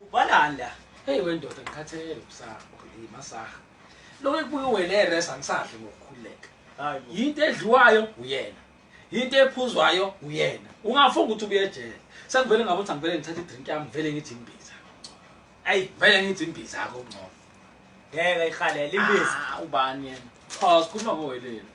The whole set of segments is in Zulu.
Ubhalani la? Hey wendoda ngikhathele usaha ukhulile masaha. Lo ekubuye wena eres angisadle ngokukhuleka. Hayi yinto edliwayo uyena. Yinto ephuzwayo uyena. Ungafunga ukuthi ubuye ejele. Sekuvele ngabe uthi angivele ngithathe idrink yami vele ngithi imbiza. Ayi vele ngithi imbiza akho ngcono. Ngeke ikhalela imbiza. Ah, ubani yena? Cha sikhuluma ngowelelo.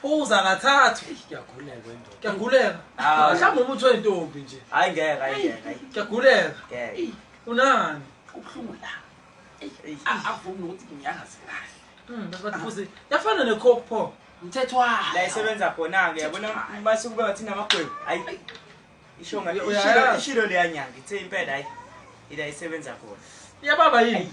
Phuza kathathu. Kuyaguleka into. Kuyaguleka. Ah, mhlawumbe umuntu wentombi nje. Hayi ngeke, hayi ngeke. Kuyaguleka. Ngeke. Unani? Kubuhlungu la. Avumi ukuthi ngiyazi kahle. Mm, but futhi yafana ne coke pop. Mthethwa. La isebenza khona ke yabona mase kube ngathi namagwebu. Hayi. Isho ngathi uyaya ishilo leyanyanga ithe impela hayi. Ila isebenza khona. Iyababa yini?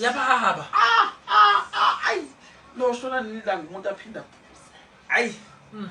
yababa ah, ah, ah, ayi loshona nini la ngumuntu aphinde aphuze ayi hmm.